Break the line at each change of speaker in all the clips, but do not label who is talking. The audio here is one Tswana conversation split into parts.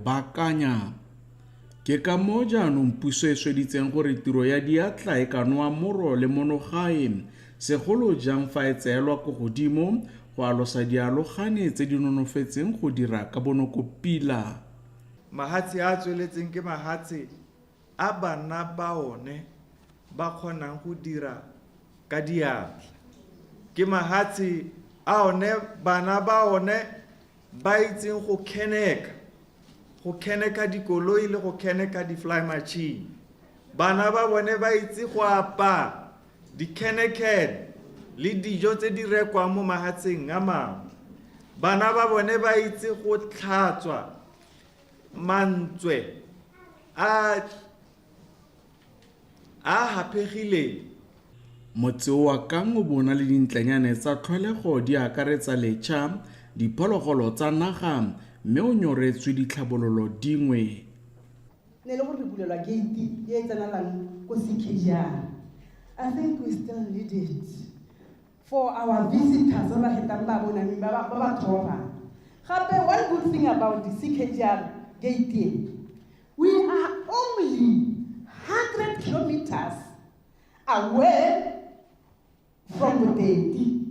Baakanya! Ke ka moo jaanong puso e sweditseng gore tiro ya diatla e ka noa moro le monogae, segolo jang fa e tseelwa ko godimo go alosa dialogane tse di nonofetseng go dira ka bonoko pila. Mahatshe
a a tsweletseng ke mahatshe a bana ba one ba kgonang go dira ka diatla. Ke mahatshe a one bana ba one ba itseng go keneka go keneka dikoloi le go keneka di-fly machine bana ba bone ba itse go apa dikenekene le dijo tse di rekwang mo mahatsheng a mangwe bana ba bone ba itse go tlhatswa mantswe a a gapegileng.
Motse oa Kang o bo o na le dintlanyane tsa tlholego di akaretsa lecha, diphologolo tsa naga mme o nyoretswe ditlhabololo dingwe. Ne
le gore re bulelwa gate e e tsenelang ko CKR. I think we still need it. For our visitors ba ba hetang ba bonami ba ba ba thoba. Gape one good thing about the CKGR gate e, we are only 100 kilometers away from Bodedi.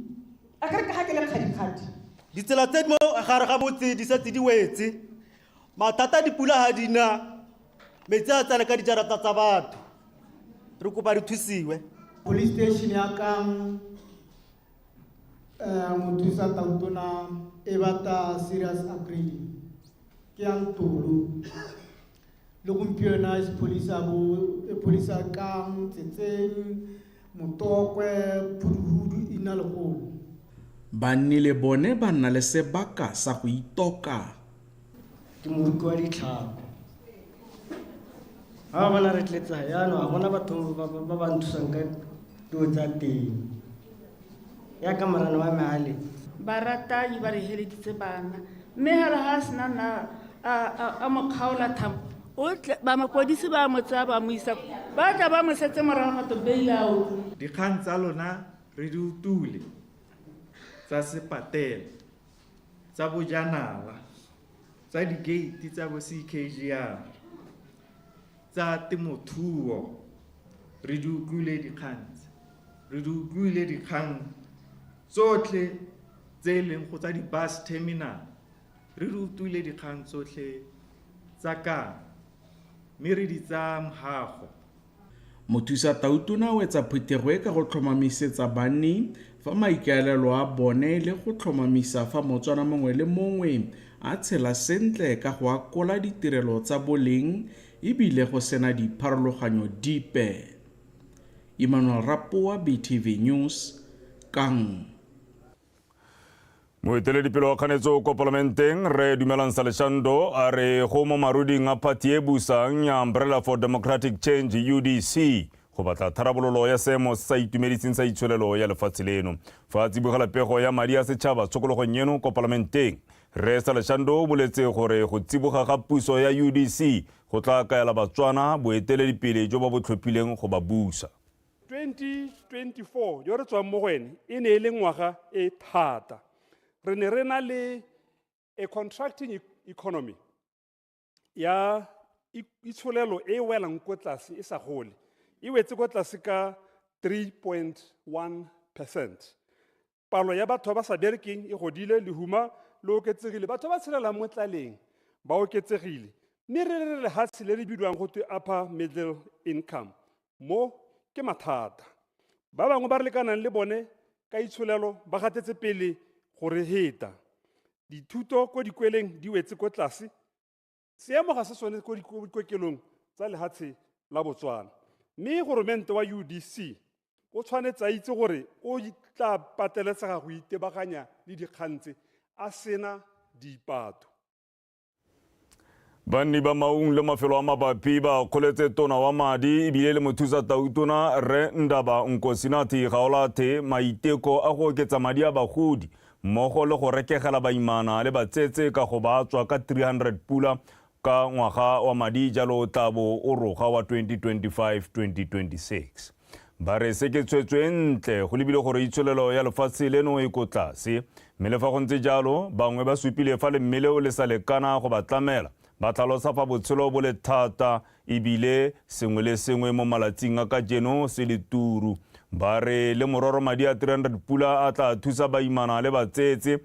A ka re ka ga ke le kgadikgadi. Ditsela tse di mo
gare ga motse di setse di wetse mathata dipula ga di na metsi a tsena ka dijarata tsa batho re kopa re thusiwe police station
ya kang um mothusa tautona e batla serious upgrading ke ya ntolo le gompieno e sepholisa bo- e pholisa kang tsetseng motokwe phuduhudu e ina legolo banni
le bone ba nna le sebaka sa go itoka ke
moruki wa ditlhako ga ba bona re tletsa yaanong ga bona batho ba ba nthusang ka dilo tsa teng ya ka morana wa meale baratanyi
ba re heleditse bana mme gale ga a sena nna a mo kgaola thamo ba mapodisi ba mo tsaya ba mo isa ba tla ba mo setse morago gato beilao dikgang tsa lona
re di utule tsa sepatela tsa bojanala tsa dikeiti tsa bo CKGR tsa temothuo re di utlwile dikgang tse. Re di utlwile dikgang tsotlhe tse e leng go tsa di-bus terminal. Re di utlwile dikgang tsotlhe tsa ka mme re di tsaya mogago. Mothusa
Tautona o etsa phuthego e ka go tlhomamisetsa banni fa maikaelelo a bone e le go tlhomamisa fa Motswana mongwe le mongwe a tshela sentle ka go akola ditirelo tsa boleng e bile go sena dipharologanyo dipe. Emmanuel Rapoa, BTV News, Kang.
moeteledipele wa kganetso ko palamenteng re dumelang saleshando a re go mo maruding a phathi e busang ya umbrella for democratic change udc go batla tharabololo ya seemo se sa itumediseng sa itsholelo ya lefatshe leno fa a tsibogela pego ya madi a setšhaba tshokologong eno ko palamenteng re saleshando o boletse gore go tsiboga ga puso ya udc go tla kaela batswana boeteledipele jo ba bo tlhophileng go ba busa 2024
jo re tswang mo go ene e ne e le ngwaga e thata re ne re na le a contracting e-, economy ya itsholelo e welang ko tlase e sa gole e wetse ko tlase ka 3.1 percent palo ya batho ba ba sa berekeng e godile lehuma le oketsegile batho ba ba tshelelang mo tlaleng ba oketsegile mme re re lehatshe le le bidiwang go twe upper middle income mo ke mathata ba bangwe ba re lekanang le bone ka itsholelo ba gatetse pele go re heta dithuto ko dikweleng di wetse ko tlase seemo ga se sone ko dikokelong tsa lehatshe la botswana mme goromente wa udc o tshwanetse a itse gore o tla pateletsega go itebaganya le dikgang tse a sena dipato
banni ba maung le mafelo a mabapi ba kgoletse tona wa madi ebile le mothusa tautona rre ndaba nkosinathi gaolathe maiteko a go oketsa madi a bagodi mmogo le go rekegela baimana le batsetse ka go ba tswa ka 300 pula ka ngwaga wa madi jalo o tla bo o roga wa 2025-2026. Ba re se ke tshwetso e ntle go lebile gore itsholelo ya lefatshe leno e ko tlase, mme le fa go ntse jalo bangwe ba supile fa lemme leo le sa lekana go ba tlamela, ba tlhalosa fa botshelo bo le thata E bile sengwe le sengwe mo malatsing a kajeno se le turu. Ba re le mororo madi a 300 pula a tla thusa baimana le batsetse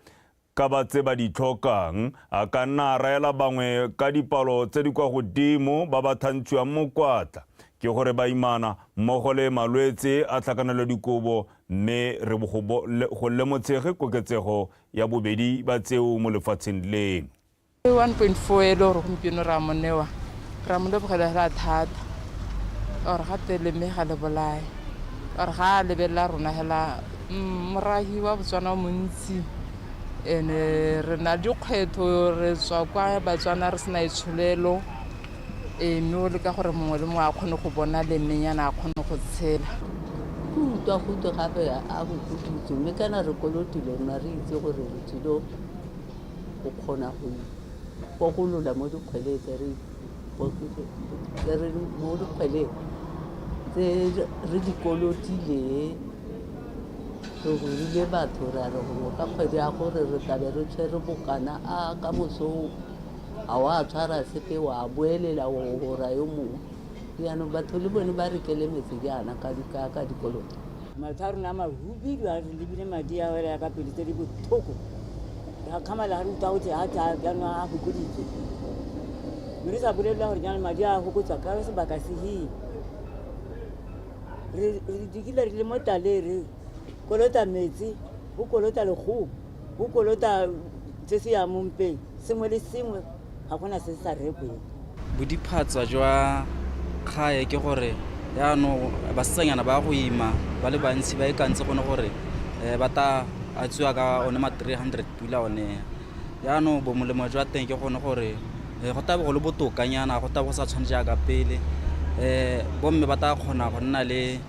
ka ba tse ba di tlhokang. A ka nna a raela bangwe ka dipalo tse di kwa godimo ba ba thantshiwang mokwatla ke gore baimana mmogo le malwetse a tlhakanelo dikobo mme re bo go go lemotshege koketsego ya bobedi ba tseo mo lefatsheng leno. Ke 1.4
e le gore gompieno ra mo newa ra mo lebogela la thata or ga te le me ga le bolae or ga a lebelela rona hela mm, morahi wa botswana o montsi ene re na dikgwetho re tswa kwa batswana re sena itsholelo e mme o leka gore mongwe le mongwe a kgone go bona le menyana a kgone go tshela ke utlwa
gotwe gape a go kudutse mme kana re kolotile rona re itse gore re tsilo go kgona go ikokolola mo dikgweleng tse re tse re mo dikgweleng tse re di kolotileng re rurile batho ra re gore ka kgwedi ya gore re tlabe re tshwere bokana a ka mosong ga wa tshwara sepe wa boelela o gora yo mongwe jaanong batho le bone ba rekele metse jaana ka dikoloto Matho a rona a
mahubidu a re lebile madi a wela ka pele tse di botlhoko ga kgamala ga re utlwa gote a tsa jaanong a fokoditswe mme re sa bolelelwa gore jaanong madi a fokotswa ka sebaka seheng re dikile re le mo taleng re kolota metsi go kolota legomo go kolota se se yang mompeng sengwe le sengwe ga gona se se sa rekweng. Bodiphatsa
jwa kgae ke gore yaanong basetsanyana ba go ima ba le bantsi ba ikantse gone gore um ba ta a tswiwa ka one ma three hundred pula one yaanong bo molemo jwa teng ke gone gore um go tabe go le botokanyana go tabe go sa tshwane jaaka pele um bomme ba ta kgona go nna le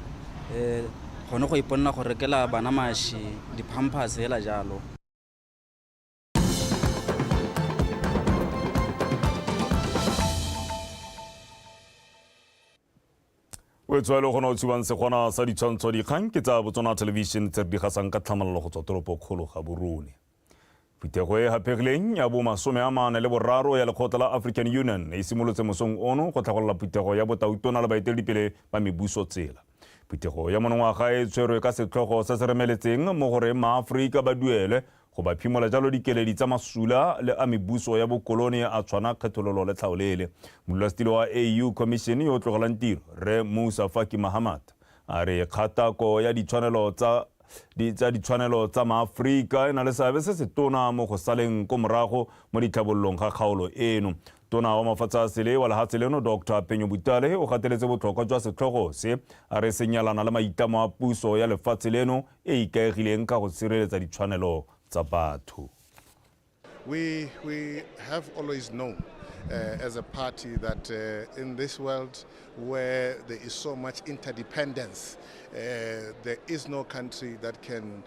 um gone go iponela go rekela bana maši di-pampers fela jalo.
o etswa e le gona o tshubang segona sa ditshwantsho dikgang ke tsa botswana television tse re di gasang ka tlhamalelo go tswa toropo kgolo ga borone phuthego e hapegileng ya bo masome a mane le boraro ya lekgotla la african union e simolotse mosong ono go tlhagolela phuthego ya botautona le baeteledipele ba mebuso tsela Phuthego ya monongwaga e tshwerwe ka setlhogo se se remeletseng mo goreng maAforika ba duelwe go ba phimola jalo dikeledi tsa masula le a mebuso ya bokolone a tshwana kgethololo le tlhaolele. Modulasetilo wa AU Commission yo o tlogelang tiro, Rre Moussa Faki Mahamat, a re kgatako ya ditshwanelo tsa tsa ditshwanelo tsa maAforika e na le seabe se se tona mo go saleng ko morago mo ditlhabololong ga kgaolo eno. Tona wa mafatshe a sele wa lehatshe leno Doctor Penyo Butale o gateletse botlhokwa jwa setlhogo se a re se nyalana le maitlamo a puso ya lefatshe leno e e ikaegileng ka go sireletsa ditshwanelo tsa batho. We,
we have always known uh, as a party that uh, in this world where there is so much interdependence, uh, there is no country that can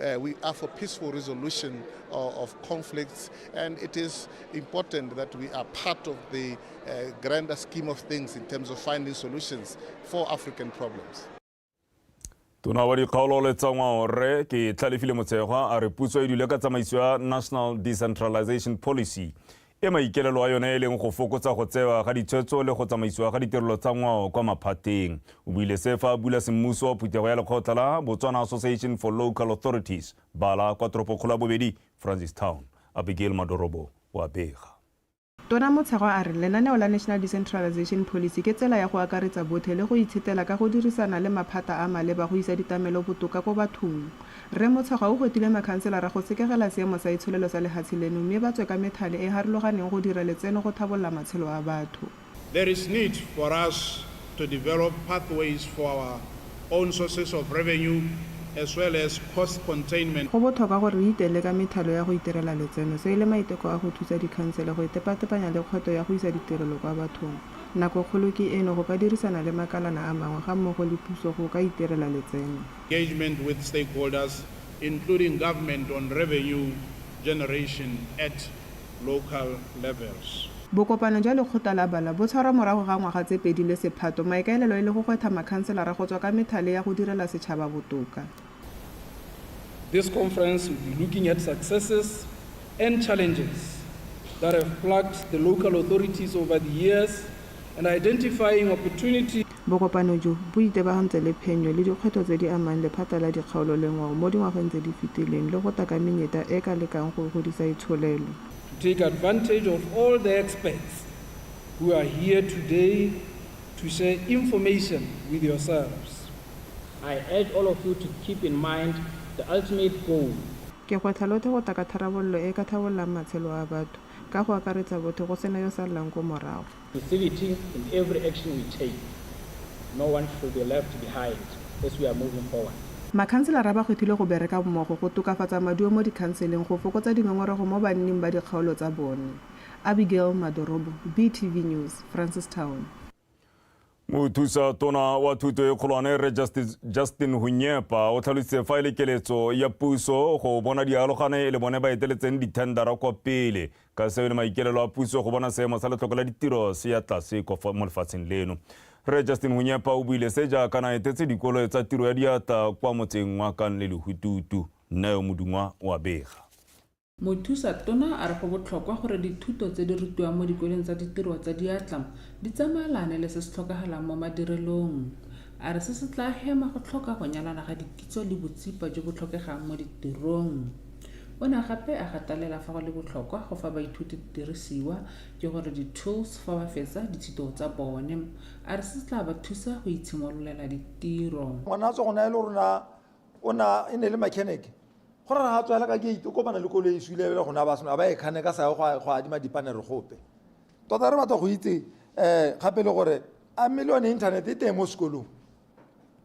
Uh, we are for peaceful resolution of, uh, of, conflicts, and it is important that we are part of the uh, grander scheme of things in terms of finding solutions for African problems.
tona wa dikgaolo le tsa ngwaorre ke tlhalefile motshegwa a re puso e dule ka tsamaiso ya national decentralization policy e maikaelelo a yone e leng go fokotsa go tsewa ga ditshwetso le go tsamaisiwa ga ditirelo tsa ngwao kwa maphateng. O buile se fa a bula semmuso wa phuthego ya lekgotla la Botswana Association for Local Authorities, bala, kwa toropokgolo ya bobedi, Francistown. Abigail Madorobo o a bega. Tona Motshegwa
a re lenaneo la National Decentralization Policy ke tsela ya go akaretsa botlhe le go itshetela ka go dirisana le maphata a maleba go isa ditamelo botoka ko bathong. Rre Motshekgwa o gotile makhanselara go sekegela seemo sa itsholelo sa lehatshe leno mme ba tswe ka methale e harologaneng go dira letseno go thabolola matshelo a batho. There is need
for us to develop pathways for our own sources of revenue as well as cost containment. Go botlhokwa gore re
iteele ka methalo ya go itirela letseno. Se e le maiteko a go thusa dikhansele go itepatepanya le kgweto ya go isa ditirelo kwa bathong. Nako kgolo ke eno go ka dirisana le makalana a mangwe ga mmogo le puso go ka itirela letseno. engagement with
stakeholders including government on revenue generation at local levels. Bokopano jwa
lekgotla la bala bo tshwarwa morago ga ngwaga tse pedi le sephato, maikaelelo e le go gwetha makhanselara go tswa ka methale ya go direla setšhaba botoka.
This conference will be looking at successes and challenges that have plagued the local authorities over the years and identifying opportunities. Bokopano jo,
bo itebagantse le phenyo le dikgwetlho tse di amang lephata la dikgaolo le ngwao mo dingwageng tse di fetileng le go tla ka menyeta e e ka lekang go godisa itsholelo. To take
advantage of all the experts who are here today to share information with yourselves, I
urge all of you to keep in mind the ultimate goal, Ke gwetlha lotlhe
go tla ka tharabololo e e ka tlhabollang matshelo a batho, ka go akaretsa botlhe go sena yo sallang ko morago. Facility in
every action we take, no one should be left behind as we are moving forward. Makhanselara ba
kgethilwe go bereka mmogo go tokafatsa maduo mo dikhanseleng go fokotsa dingongorego mo banning ba dikgaolo tsa bone. Abigail Madorobo, BTV News, Francistown.
Mothusa tona wa thuto e kgolwane re Justin Hunyepa o tlhalositse fa e le keletso ya puso go bona dialogane e le bone ba eteletseng dithendara kwa pele ka seo e le maikelelo a puso go bona seemo sa letlhoko la ditiro se ya tlase mo lefatsheng leno re Justin Hunyepa o buile se jaaka na etetse dikolo tsa tiro ya diatla kwa motseng wa Kanle Lehututu nna yo modungwa wa bega Mothusa
Tona a re go botlhokwa gore dithuto tse di rutiwang mo dikoleng tsa ditiro tsa diatla di tsamaelane le se se tlhokagalang mo madirelong. A re se se tlaa hema go tlhoka go nyalana ga dikitso le botsipa jo bo tlhokegang mo ditirong. O ne gape a gatalela fa go le botlhokwa go fa baithuti didirisiwa, ke gore di-tools, fa ba fetsa dithito tsa bone. A re se se tlaa ba thusa go itshimololela ditiro. Ngwana a tswa go na e le
rona o na e ne le mechanic go ra ga tswela ka gate o kopana le koloi e swile le gona ba seno a ba e kgane ka sa go go adima dipanere gope tota re batla go itse um gape le gore a mme le yone internet e teng mo sekolong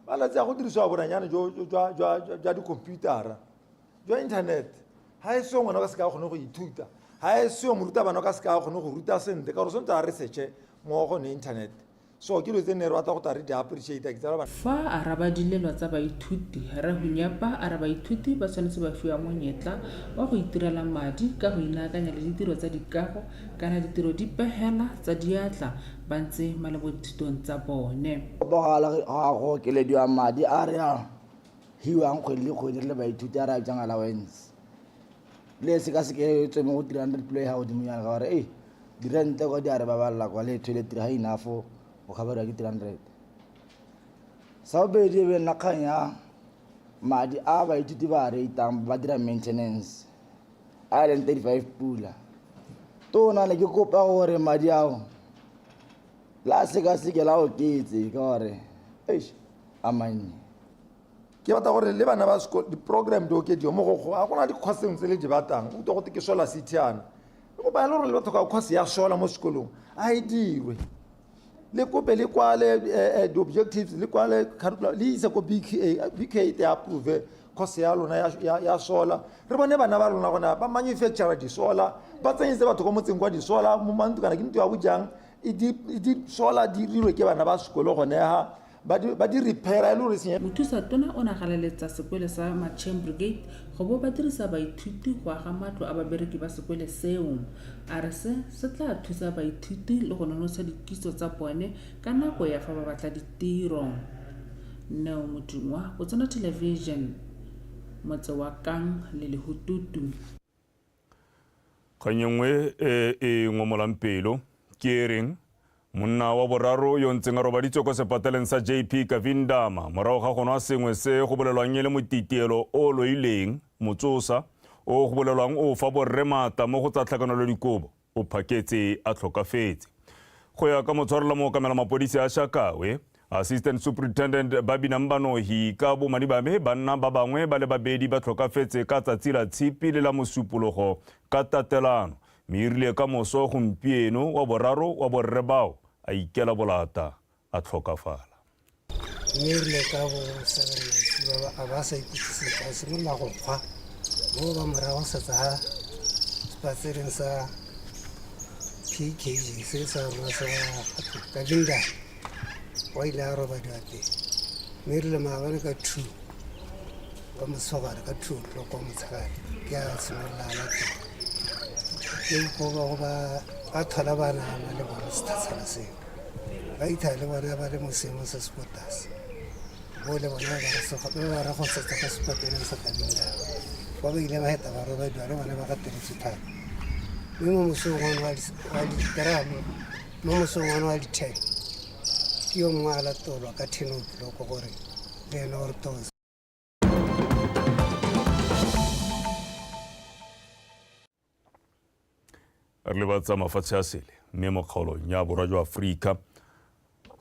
malatsi a go dirisiwa boranyane jwa dikhomputara jwa internet ga e seo ngwana ka seka a kgone go ithuta ga e seo morutabana ka seka a kgone go ruta sentle ka gore sentse a researche mo gone internet So ke lo tse ne re batla go tla re di appreciate ke tsela ba Fa a raba dilelwa
tsa baithuti, Rre Hunyapa a re baithuti ba tshwanetse ba fiwa monyetla wa go itirela madi ka go inaakanya le ditiro tsa dikago kana ditiro di pegela tsa diatla ba ntse ma le bodithutong tsa bone. Tshepagala ga
go okelediwa madi a re a hiwang kgwedi le kgwedi re le baithuti a re a bitsang allowance. le se ka se ke tswe mo go three hundred plo e ga godimo yana ka gore e dirente kwa di a re babalela kwa le toilet ga inafo o kgabarwa ke three hundred sa bobedi e be nna kgang ya madi a baithuti ba a reitang ba dira maintenance a e leng thirty five pula tona ne ke kopa gore madi ao la sekaseke la oketse ka gore eish a mannye
ke batla gore le bana ba sekolo di-program di okediwe mo go a gona dikgwaseng tse le di batang o go te ke sola sithiana e kopa ya le gore le batho ka kgwase ya sola mo sekolong a e dirwe le kope le kwale eh, eh, di-objectives le kwale curriculum le ise ko bqa bqa e te approve kgwase ya lona ya sola re bone bana ba lona gona ba manufacture disola ba tsenyetse batho ko motseng kwa disola mo mantu kana ke nto ya bojang e di sola di rirwe ke bana ba sekolo gone ga ba di, ba di repaira e le gore senye mothusa tona o ne a
galaletsa sekwele sa macheng brigade go bo ba dirisa baithuti go aga matlo a babereki ba sekwele seo a re se se tla thusa baithuti le go nonotsha dikitso tsa bone ka nako ya fa ba batla ditiro neo modingwa botsona television motse wa kang le lehututu Kgang
e nngwe e e ngomolang pelo ke e reng monna wa boraro yo ntseng a robaditswe kwa sepateleng sa JP Kavindama morago ga go nwa sengwe se go bolelwang e le motitielo o loileng motsosa o go bolelwang o fa borre maatla mo go tsa tlhakanelo dikobo. o phaketse a tlhokafetse. Go ya ka motshwarela mookamela mapodisi a Shakawe, Assistant Superintendent Babinang Banohi ka bomadi ba me banna ba bangwe ba le babedi ba tlhokafetse ka tsatsi la tshipi le la mosupologo ka tatelano mme e rile ka moso gompieno wa boraro wa borre bao a ikela bolata a tlhokafala. Mme
rile ka bo 7 maitshiwa ba a ba sa ikutse sepe a simolola go kgwa bo ba morago setsa ha sepatsereng sa PKG se sa rona sa ka dinda wa ile a roba date mme rile maabane ka two ka motshogare ka two o'clock wa motshegare ke a simolola ana teng ke go ba go ba ba thola banana le bona sethatshana seo ba itha le bone ba le mo seemong se se ko tlase bo le bone ba ba ra go setsa ka sepateleng sa kabila ba ba ile ba heta ba robediwa le bone ba ka tiritse thata mme mo mosong one wa diteramo mo mosong one wa di-ten ke yo mongwe a latolwa ka thenoki loko gore le ene o re tose
re lebatsa mafatshe a sele mme mo kgaolong ya borwa jwa aforika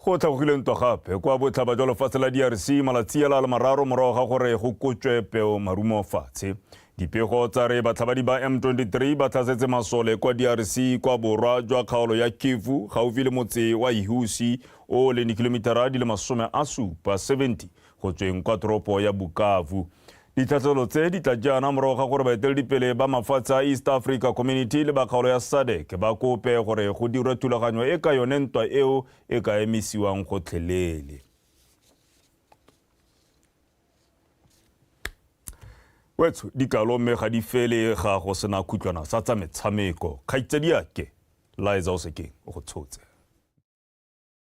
go tlhagogile ntwa gape kwa botlhaba jwa lefatshe la drc malatsi a la le mararo morago ga gore go kotswe peo marumo fatshe dipego tsa re batlhabadi ba m23 ba tlhasetse masole kwa drc kwa borwa jwa kgaolo ya kivu gaufi le motse wa ihusi o leng dikhilomitara di le masome a supa 70 go tsweng kwa toropo ya Bukavu. Ditlhatlhelo tse di tla jaana morago ga gore baeteledipele ba mafatshe a East Africa Community le ba kgaolo ya SADC ba kope gore go dirwe thulaganyo e ka yone ntwa eo e ka emisiwang gotlhelele. wetsho dikalo mme ga di fele ga go sena khutlwana sa tsa metshameko kgaitsadiake liza o sekeng o go tshotse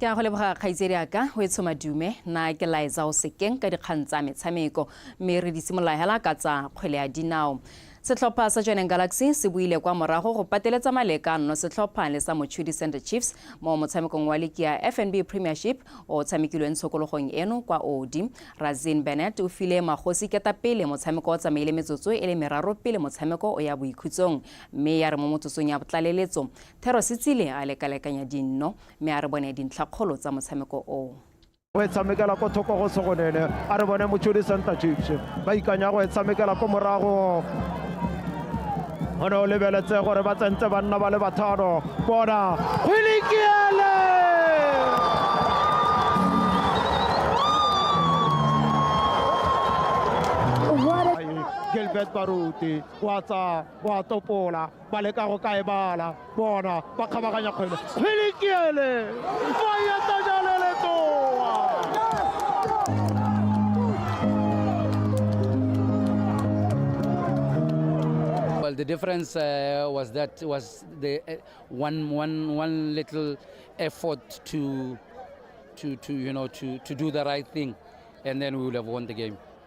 Ke a go leboga kgaitsedi a ka o e tsho madume na ke laetsa o sekeng ka dikgang tsa metshameko mme re di simolola hela ka tsa kgwele ya dinao. Setlhopha sa Joining Galaxy se buile kwa morago go pateletsa maleka nno setlhopha le sa Mochudi Center Chiefs mo motshamekong wa liki ya FNB Premiership o tshamekilweng tshokologong eno kwa Odi. Razin Bennett o file Magosi ketapele motshameko o tsamaile metsotso e le meraro pele motshameko o ya boikhutsong mme ya re mo motsotsong ya botlaleletso Thero Setsile a lekalekanya dinno mme a re bone dintlhakgolo tsa motshameko oo go e tshamekela
ko thoko go segonene a re bone motshodi center chiefs ba ikanya go e tshamekela ko morago go ne o lebeletse gore ba tsentse banna ba le bathano bona go lekiele gilbert baruti wa tsa wa topola ba leka go ka e bala bona ba kgabaganya kgwele kgwele keele fa ya tajale letoa
Well, the difference uh, was that was the uh, one, one, one little effort to, to, to, you know, to, to do the right thing, and then we would have won the game.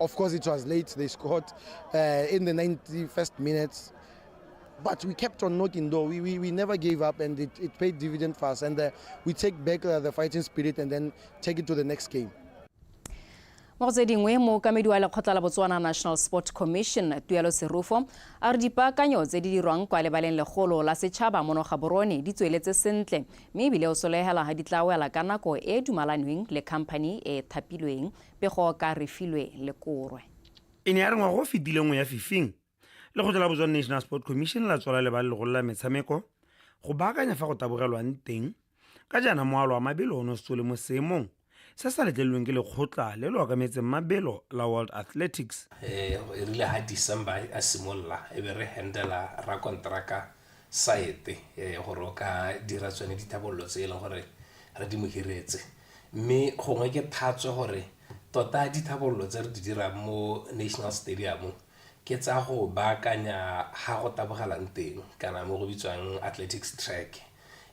Of course, it was late. They scored uh, in the 91st minutes. But we kept on knocking though. We, we, we never gave up and it, it paid dividend for us. And uh, we take back uh, the fighting spirit and then take it to the next game.
mo go tse dingwe mookamedi wa lekgotla la botswana national sport commission tuelo serufo a re dipaakanyo tse di dirwang kwa lebaleng legolo la setšhaba mono ga borone di tsweletse sentle mme ebile o solegela ga di tla wela ka nako e e dumalanweng le company e thapilweng Pego ka Refilwe le Korwe. E ne ya re ngwaga
o fetileng o ya fifing, Lekgotla la Botswana National Sport Commission la tswala le ba legolo la metshameko go
baakanya fa go tabogelwang teng, ka jaana moalo wa mabelo o ne o setse o le mo seemong se sa letlelelweng ke lekgotla le le okametseng mabelo la World Athletics. E rile
ha December a simolola e be re handela rakonteraka Saete gore o ka dira tsone dithabololo tse e leng gore re di mo hiretse. Mme gongwe ke thatswe gore tota ditlhabololo tse re di dirang mo National Stadium ke tsa go baakanya ga go tabogelang teng kana mo go bitswang athletics track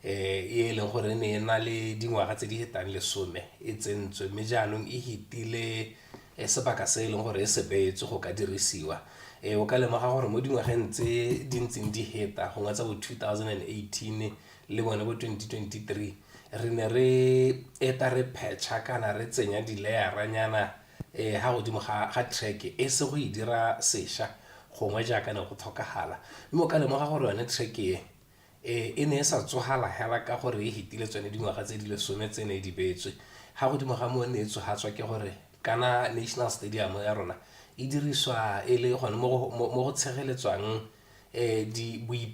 e e leng gore ne e na le dingwaga tse di fetang lesome e tsentswe mme jaanong e fetile sebaka se e leng gore e se beetswe go ka dirisiwa. O ka lemoga gore mo dingwageng tse di ntseng di feta gongwe tsa bo two thousand and eighteen le bone bo 2023 re ne re eta re phetšha kana re tsenya dileyaranyana um ha godimo ga ga track e se go e dira sesha gongwe jaaka ne go tlhokagala mme o ka lemoga gore yone track e um e ne e sa tsogala hela ka gore e hetile tsone dingwaga tse di lesome tse ne di beetswe ga godimo ga moo ne e tsogatswa ke gore kana national stadium ya rona e diriswa e le gone mo go tshegeletswang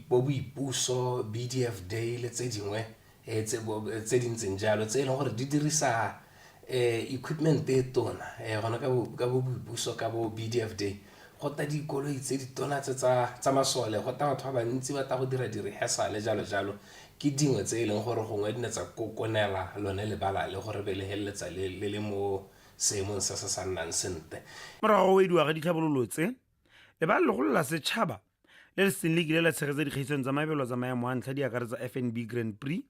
boipuso, BDF Day le tse dingwe tse di ntseng jalo tse e leng gore di dirisa equipment e tona gona ka bo boipuso ka bo BDF Day go tla dikoloi tse di tona tse tsa masole go tla batho ba bantsi ba tla go dira di-rehearsal-e jalo jalo ke dingwe tse e leng gore gongwe di ne tsa kokonela lone lebala le gore be le feleletsa le le mo seemong se se sa nnang sentle. Morago ga go wediwa ga
ditlhabololo tse, Lebala legolo la setšhaba le le seng le kile la tshegetsa dikgaisano tsa mabelo tsa maemo a ntlha di akaretsa FNB Grand Prix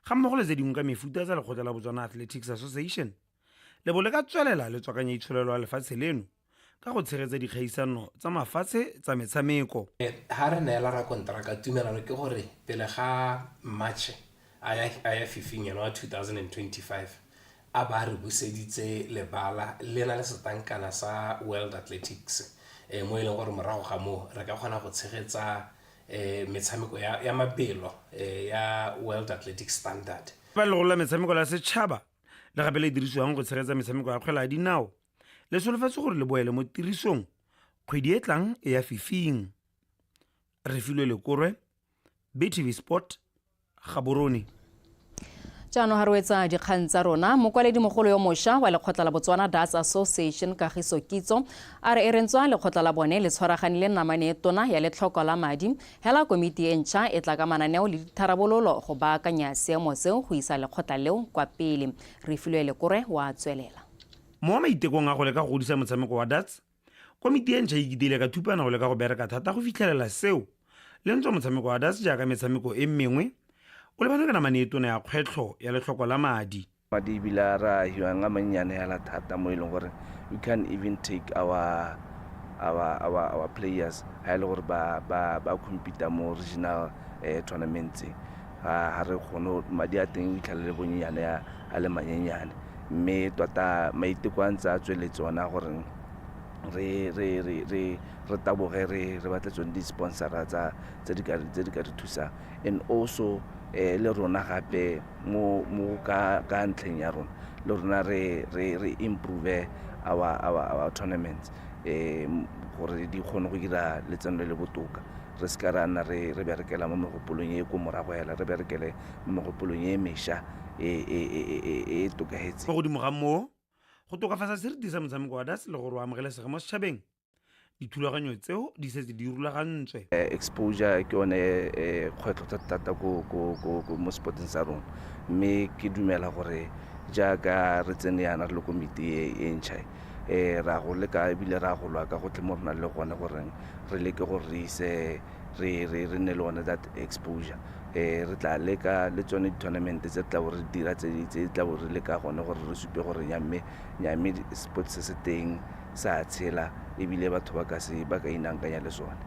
ga mmogo le tse dingwe ka mefuta tsa lekgotla la Botswana Athletics Association le bo le ka tswelela le tswakanya itsholelo ya lefatshe leno ka go tshegetsa dikgaisano tsa mafatshe tsa metshameko. Ga re neela
rakonteraka tumelano ke gore pele ga Matšhe a ya Fifing eno wa 2025, a ba re buseditse lebala le na le setankana sa world athletics eh, mo e leng gore morago ga moo re ka kgona go tshegetsa eh, metshameko ya, ya mabelo eh, ya world athletic standard ba legolo la metshameko
la setšhaba le gape le dirisiwang go tshegetsa metshameko ya kgwela ya dinao le solofetse gore le boele mo tirisong kgwedi e tlang e ya fifing refilwe lekorwe btv sport gaborone
jaanong ga re wetsa dikgang tsa rona mokwaledi mogolo yo mošwa wa lekgotla la botswana das association kagiso kitso a re e rentswa lekgotla la bone le tshwaragane le namane e tona ya letlhoko la madi hela komiti e ntšha e tla ka mananeo le ditharabololo go baakanya seemo seo go isa lekgotla leo kwa pele re filwe lekore wa tswelela mo maitekong
a go leka go godisa motshameko wa dats Komiti e ntšha e kitile ka thupana go leka go bereka thata go fitlhelela seo. Le ntswa motshameko wa das jaaka metshameko e mengwe, o lebane ka namane e tona ya kgwetlho ya letlhoko la madi. Madi ebile a re
a hiwang a mannyane hela thata mo e leng gore you can even take our, our, our, our players ha e le gore ba, ba, ba compete mo regional eh, tournaments ga re kgone madi a teng o itlhalele bonnyane a le manyenyane mme tota maiteko a ntse a tsweletse one a gore re re re re re taboge re re batle tsone di-sponsora tsa tse di ka tse di ka re thusang and also eh le rona gape mo mo ka ka ntlheng ya rona le rona re re re improve our our our tournaments eh gore di kgone go dira letseno le le botoka re se ka ra nna re re berekela mo megopolong e ko morago hela re berekele mo megopolong e mesha e e tokahetseng. Fa godimo ga moo,
go tokafatsa seriti sa motshameko wa darts le gore o amogelesege mo setšhabeng, dithulaganyo tseo di setse di rulagantswe. Exposure ke
yone kgwetlho thata-thata mo sport-eng sa rona, mme ke dumela gore jaaka re tsene yana re le komiti e e ntšha e, re a go leka ebile re a go lwa ka gotlhe mo re nang le gone gore re leke gore re ise re nne le one that exposure. Re tla leka le tsone di-tournament tse re tlabo re di dira tse di tlabo re le ka gone gore re supe gore nyamme nyamme sport se se teng sa tshela ebile batho ba ka se ba ka inangkanya le sone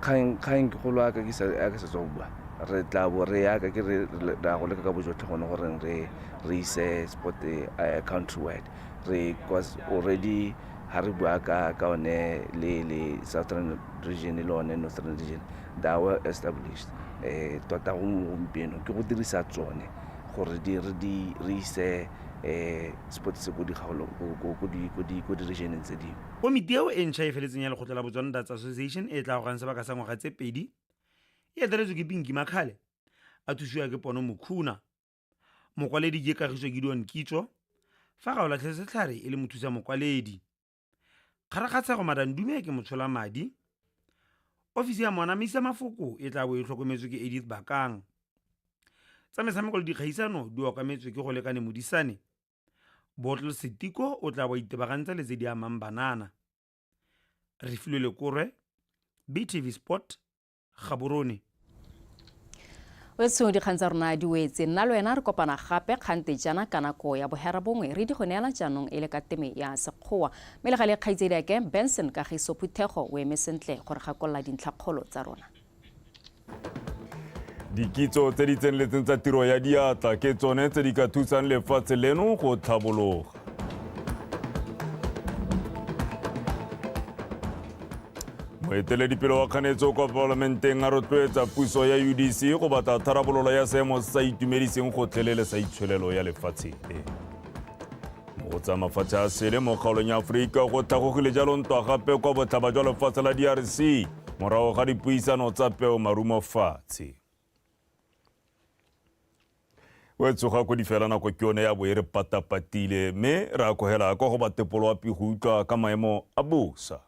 kgang kgang ke golo aka ke sa aka se tswa bua re tla bo re yaka ke re ra go leka ka bojotlhe gone gore re re ise sport uh, country wide re cause already ha re bua ka ka one le le southern region le one northern region they are well established um tota gompieno ke go dirisa tsone gore di re di re ise um sports se ko dikgaolong ko di-regioneng tse dingwe Komiti eo e ntšha e
feletseng ya Lekgotla la Botswana Darts Association e tla gorang sebaka sa ngwaga tse pedi e eteletswe ke Pinky Makhale a thusiwa ke Pono Mukhuna. Mokwaledi ke Kagiso Gideon Kitso fa Gaolatlhe Setlhare e le mothusa mokwaledi. Kgarakgatshego Madam Dumeke Motsholamadi, Ofisi ya Moanamisi ya Mafoko e tla bo e tlhokometswe ke Edith Bakang. Tsa metshameko le dikgaisano di okametswe ke go lekane Modisane. Bottle Setiko o tla bo a itebagantsa le tse di amang banana. Refilwe Lekorwe, BTV Sport, Gaborone.
wetso dikgang tsa rona di wetse nna le wena re kopana gape kgante jana ka nako ya bohera bongwe re di go neela jaanong e le ka teme ya sekgowa mme le gale kgaitsedi ake benson kagiso phuthego o eme sentle gore gakolola dintlhakgolo tsa rona
dikitso tse di tseneletseng tsa tiro ya diatla ke tsone tse di ka thusang lefatshe leno go tlhabologa moeteledipele wa kganetso kwa palamenteng a rotloetsa puso ya udc go batla tharabololo ya seemo se sa itumediseng gotlhelele sa itshwelelo ya lefatshe e go tsa mafatshe a sele mo kgaolong ya aforika go tlhagogile jalo ntwa gape kwa botlhaba jwa lefatshe la drc morago ga dipuisano tsa peo marumo fatshe o tsoga ko di fela nako ke yone ya bo e re patapatile mme re akogela kwa go batepolo wa pigo utlwa ka maemo a bosa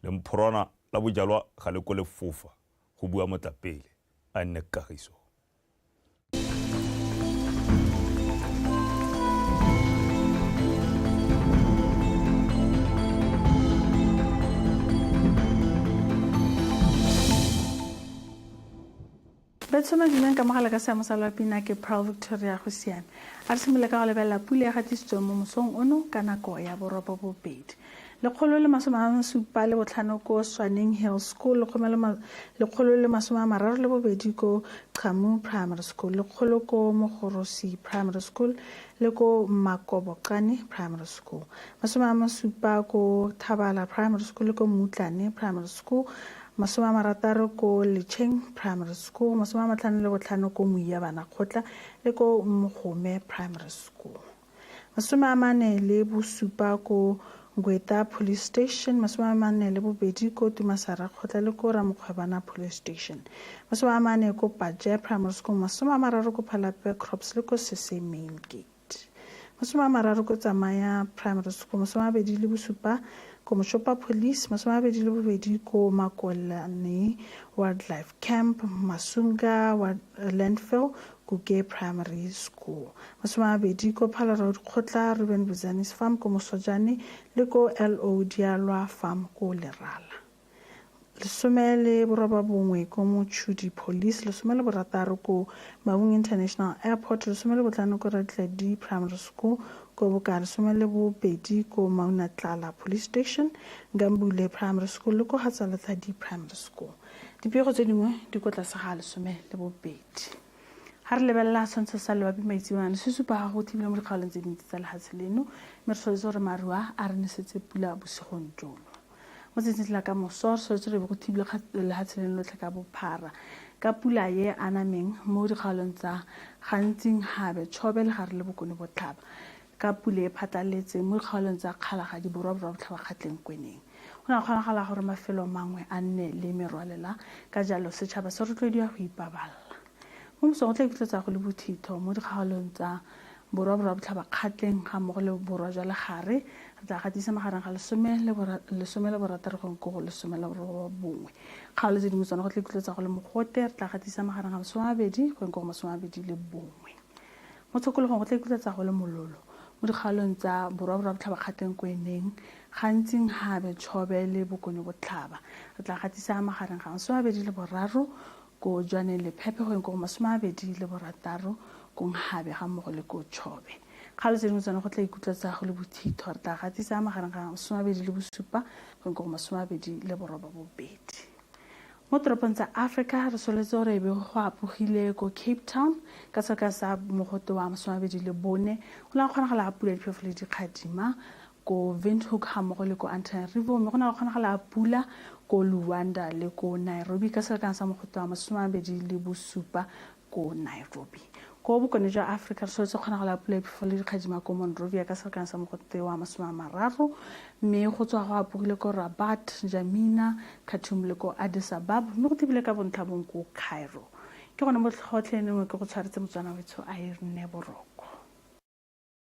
le mphorwana la bojalwa ga le ko le fofa go bua motlapele a nne kagiso
Betshoma dinang ka mogala ka seamo sa lwa pina ke Pearl Victoria go siame. A re simole ka go lebelela pule ya gatisitsweng mo mosong ono ka nako ya borobo bobedi. Lekgolo le masome a masupa le botlhano ko Swaneng Hill School, lekgolo le masome a mararo le bobedi ko Chamu Primary School, lekgolo ko Mogorosi Primary School le ko Makoboqane Primary School, masome a masupa ko Thabala Primary School le ko Mutlane Primary School, Masome a marataro ko Lecheng Primary School, masome a matlhano le botlhano ko Moia Banakgotla le ko Mogome Primary School. Masome a mane le bosupa ko Ngweta Police Station, masome a mane le bobedi ko Tumasarakgotla le ko Ramokgwebana Police Station. Masome a mane ko Paje Primary School, masome a mararo ko Phalape Crops le ko Sese Main Gate. T. Masome a mararo ko Tsamaya Primary School, masome a mabedi le bosupa ko Moshopa Police, masome a mabedi le bobedi ko Makolane Wildlife Camp, Masunga Landfill, Kuke Primary School, masome a mabedi ko Phalarao Dikgotla, Ruben Buzani's Farm ko Mosojane le ko LO Dialwa Farm ko Lerala. lesome le borobabongwe ko motšhudi police lesome le borataro ko mabung international airport lesome le botlhano ko retledi primary school ko boka lesome le bobedi ko maunatlala police station gambule primary school le ko gatsaletladi primary school dipego tse dingwe di ko tlase ga lesome le bobedi ga re lebelela tshwantsho sa lebapi maitsewane se supa ga go thibile mo dikgaolong tse dintsi tsa lefatshe leno mme re tshwanetse gore maruwa a re nesetse pula bosigong jono Mo tsatsing la ka moso, re tshwanetse re be go thibilwe kgatelelo lehatshe leno lotlhe ka bophara ka pula ye anameng mo dikgaolong tsa Gantsing, Habe, Chobe, Legare le Bokone Botlhaba, ka pula e phatlaletseng mo dikgaolong tsa Kgalagadi, Borwa, Borwa Botlhaba, Kgatleng, Kweneng. Go ne ga kgonagala gore mafelo mangwe a nne le merwalela, ka jalo setšhaba se rotloediwa go ipaballa. Mo mosong o tla iketletsa go le bothitho mo dikgaolong tsa borwa borwa botlhabakgatleng ga mmogo le borwa jwa legare. Re tla gatisa magareng ga lesome le borataro gong ko go lesome le borobongwe. Kgaolo tse dingwe tsone go tla iketletsa go le mogote. Re tla gatisa magareng ga masome a mabedi gong ko go masome a mabedi le bongwe. Mo tshokologong go tla iketletsa go le mololo mo dikgaolong tsa borwa borwa botlhabakgatleng ko eneng gantsing gabe tshobe le bokonyo botlhaba. Re tla gatisa magareng ga masome a mabedi le boraro ko jwaneng lephephe go yeng ko go masome a bedi le borataro ko nghabe ga mmogo le ko chobe kgalo tse dingwe tsone go tla ikutlwa tsa go le bothitho re tla gatisa magareng ga masome a bedi le bosupa go yeng ko go masome a bedi le boroba bobedi mo toropong tsa africa re soletse gore ebe go apogile ko cape town ka seka sa mogote wa masomabedi le bone go la kgonagala ga pula diphefo le dikgadima ko Windhoek ga mmogo le ko Antananarivo mme go na le kgonagalo ya pula ko Luanda le ko Nairobi ka selekano sa mogotlo wa masome a mabedi le bosupa ko Nairobi. Ko bokone jwa Afrika re soletse kgonagalo ya pula e phefo le dikgadima ko Monrovia ka selekano sa mogotlo wa masome a mararo mme go tswa go apogile ko Rabat, N'Djamena, Khartoum le ko Addis Ababa mme go thibile ka bontlhabong ko Cairo. Ke gone mo tlhotlhe nengwe ke go tshwaretse Motswana wetsho a e rne boroko.